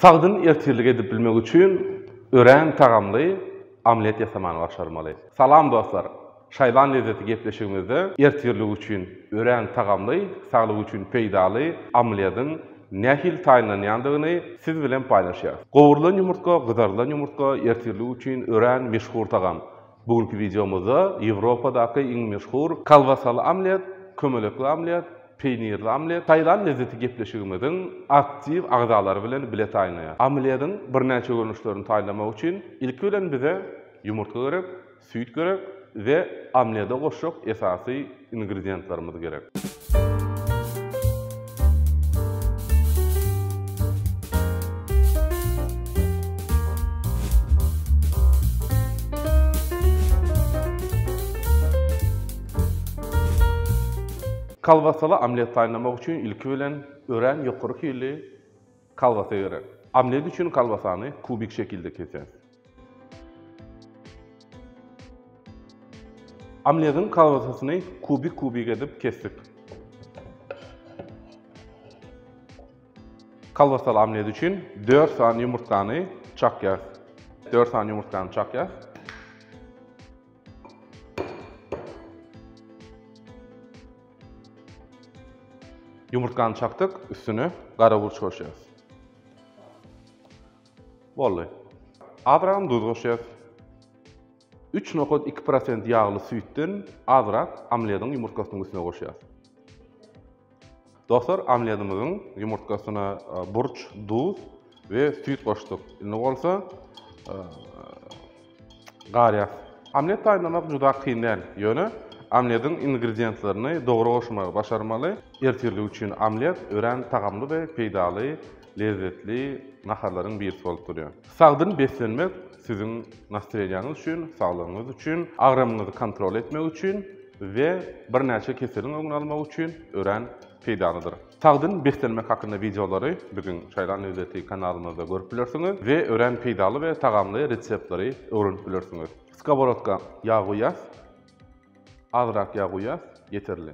Sagdyn ertirlik edip bilmek üçin örän tagamly omlet ýasamany başarmaly. Salam dostlar! Şaýlan lezzeti gepleşigimizde ertirlik üçin örän tagamly, saglyk üçin peýdaly omlediň nähili taýynlanýandygyny siz bilen paýlaşýarys. Gowrulan ýumurtga, gyzarylan ýumurtga ertirlik üçin örän meşhur tagam. Bu günki wideomyzda Ýewropadaky iň meşhur kolbasaly omlet, kömelekli omlet, peýnirli omlet, taýland lezzeti gepleşigimiziň aktiw agzalary bilen bile taýynlaýar. Omlediň birnäçe görnüşlerini taýynlamak üçin ilki bilen bize ýumurtga gerek, süýt gerek we omlede goşjak esasy ingredientlerimiz gerek. Kolbasaly omlet taýynlamak üçin ilki bilen örän ýokary hilli Kolbasa gerek. Omlet üçin kolbasany kubik şekilde keseris. Omlediň kolbasasyny kubik-kubik edip kesdik. Kolbasaly omlet üçin 4 sany ýumurtgany çakýarys. 4 sany ýumurtgany çakýarys. Ýumurtgany çakdyk, üstüne gara burç goşýarys. Boldy. Azragam duz goşýarys. 3,2% ýagly süýtden azrak omlediň ýumurtgasynyň üstüne goşýarys. Dostlar, omletimiziň ýumurtgasyna burç, duz we süýt goşduk. Indi bolsa garýas. Omlet taýynlamak juda kyn däl, ýöne omlediň ingredientlerini dogry goşmagy başarmaly. Ertirlik üçin omlet örän tagamly we peýdaly lezzetli naharlaryň birisi bolup durýar. Sagdyn beslenmek siziň nastreniýaňyz üçin, saglygyňyz üçin, agramyňyzy kontrol etmek üçin we birnäçe keseliň öňüni almak üçin örän peýdalydyr. Sagdyn beslenmek hakynda wideolary biziň Çaýlan lezzeti kanalymyzda görüp bilersiňiz we örän peýdaly we tagamly reseptleri öwrenip bilersiňiz. Skoworodka ýag guýýas. Azrak ýag guýýas, ýeterli.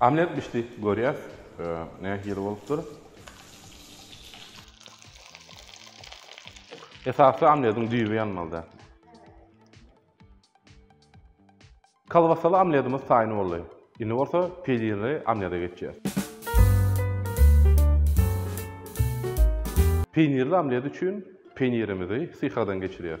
Omlet bişdi, görýäs, nähili bolupdyr. Esasy omlediň düýbi ýanmaly däl. Kolbasaly omledimiz taýyn boldy. Indi bolsa peýlirli omlede geçýäs. Peýnirli omlet üçin peýnirimizi syhagdan geçirýäs.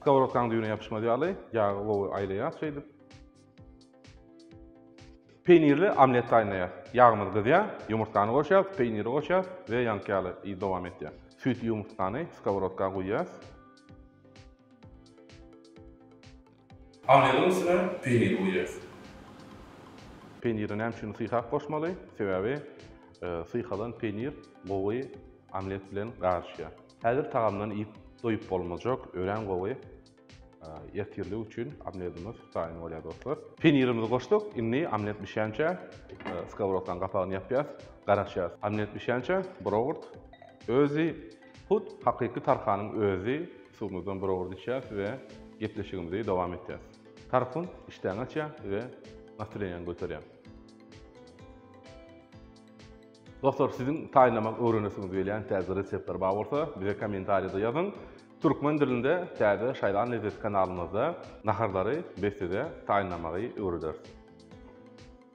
Skowrodkanyň düýbüne ýapyşmaz ýaly, ýagy gowy aýlaýas şeýdip. Peýnirli omlet taýynlaýas. Ýagymyz gyzýar, ýumurtgany goşýas, peýniri goşýas we ýaňky ýaly yz dowam etýär. Süýtli ýumurtgany skowrodka guýýas. Panyryň üstüne peýnir guýýas. Peýniri näme üçin syhak goşmaly? Sebäbi syhalan peýnir gowy omlet bilen garyşýar. Häzir tagamdan iýip doýup bolmajak örän gowy ertirlik üçin omledimiz taýyn bolýar dostlar. Peýnirimizi goşduk, indi omlet bişýänçä skowrodkanyň gapagyny ýapýas, garaşýas. Omlet bişýänçä buraurt özi Hut hakyky Tarhanyň özi suwumyzdan bir owurt içýäs we gepleşigimizi dowam etýäs. Tarhun işdäňi açýa we nastreniýaňy göterýä. Dostlar, siziň taýynlamak öwrenesiňiz gelýän täze reseptler bar bolsa, bize kommentariýada ýazyň. Türkmen dilinde täze Şaýlan lezzeti kanalymyzda naharlary biz size taýynlamagy öwrederis.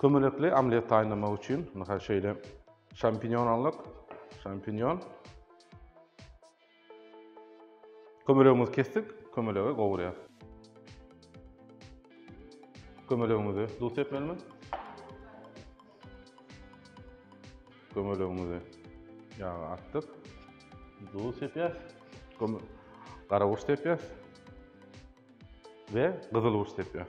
Kömelekli omlet taýynlamak üçin, mysal şeýle, şampinýon aldyk, şampinýon. Kömelegimizi kesdik, kömelegi gowurýar. Kömelegimizi duz sepmelimiz. Kömelegimizi ýaga atdyk. Duz sepýär. Gara gurç sepýär. Ve gyzyl gurç sepýär.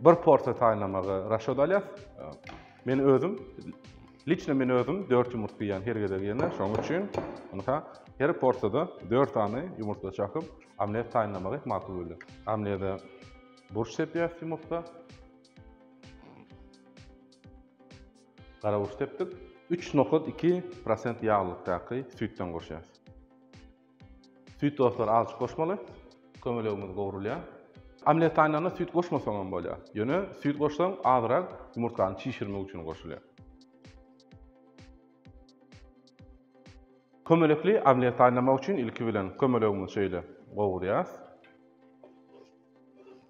Bir porsiýa taýynlamagy raşod alýas. Men özüm Liçne men özüm 4 ýumurtga ýan her gezek ýene, şoň üçin ynha her porsiýada 4 sany ýumurtga çakyp, omlet taýynlamagy makul bolýar. Omlede burç sepýäs ýumurtga. Gara burç sepdik. 3,2% ýaglykdaky süýtden goşýas. Süýt dostlary azajyk goşmaly. Kömelegimiz gowrulýar. Omlet taýynlanda süýt goşmasaň hem bolýar. Ýöne süýt goşsaň azyrak ýumurtgany çişirmek üçin goşulýar. Kömelekli omlet taýynlamak üçin ilki bilen kömelegimizi şeýle gowurýas.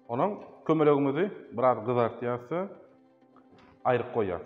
Onuň kömelegimizi biraz gyzartýas da aýryk goýýas.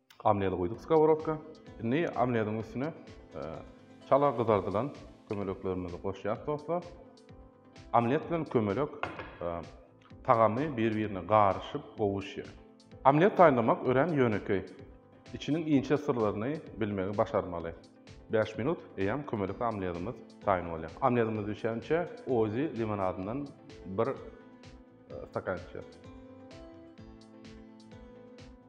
Omledi guýduk skoworodka. Indi omlediň üstüne çala gyzardylan kömeleklerimizi goşýarys dostlar. Omlet bilen kömelek tagamy bir-birine garyşyp gowuşýar. Omlet taýynlamak örän ýönekeý. Içiniň inçe syrlaryny bilmegi başarmaly. Bäş minut eýýäm kömelek omledimiz taýyn bolýar. Omledimiz bişençä ozi limonadyndan bir stakan içýäs.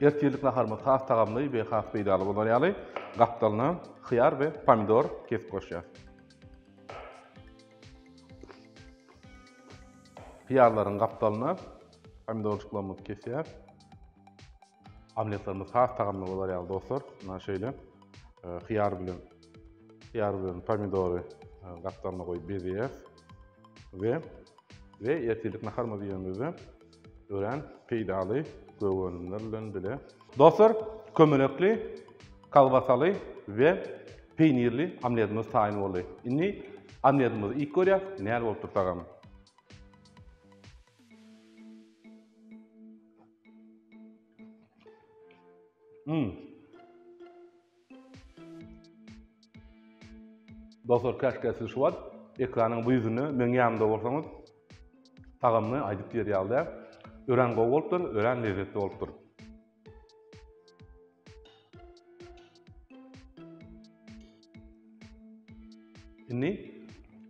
Ertirlik naharymyz has tagamly we has peýdaly bolar ýaly, gapdalyna hyýar we pomidor kesip goşýarys. Hyýarlaryň gapdalyna pomidorjyklarymyzy kesýäris. Omletlerimiz has tagamly bolar ýaly dostlar, muna şeýle e, hyýar bilen hyýar bilen pomidory e, gapdalyna goýup bezeýäris we we ertirlik naharymyzy ýemizde Örän peýdaly gögönümler bilen bile. Dostlar, kömelekli, kolbasaly we peýnirli omletimiz taýyn boldy. Indi omletimizi iýip görýäs, näl bolup tursagam. Mmm. Dostlar käşgä siz şu wagt ekranyň bu ýüzünde meň ýanymda bolsaňyz tagamyny aýdyp diýer ýaly örän gowy bolupdyr, örän lezzetli bolupdyr. Indi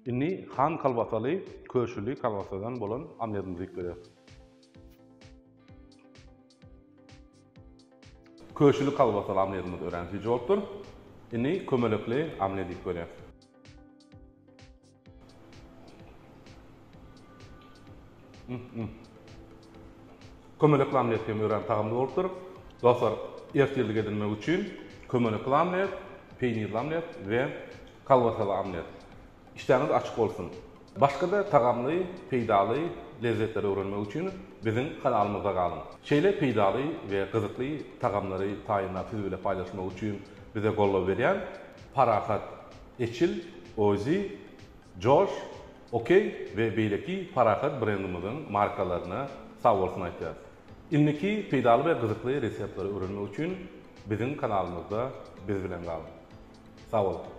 indi han kalbasaly, köşüli kalbasadan bolan omletimizi iýip göreris. Köşeli kolbasaly omledimiz örän süýji bolupdyr. Indi kömelekli omlet iýip görýäs. Kömelekli omlet hem örän tagamly bolupdyr. Dostlar, ertirlik edinmek üçin kömelekli omlet, peýnirli omlet we kolbasaly omlet. Işdäňiz açyk bolsun! Başga-da tagamly, peýdaly lezzetleri öwrenmek üçin biziň kanalymyzda galyň! Şeýle peýdaly we gyzykly tagamlary taýynlap siz bile paýlaşmak üçin bize goldaw berýän Parahat, Eçil, Ozi, Josh, OK we beýleki Parahat brendimiziň markalaryna sagbolsun aýtýarys! Indiki peýdaly we gyzykly reseptleri öwrenmek üçin biziň kanalymyzda biz bilen galyň! Sag boluň!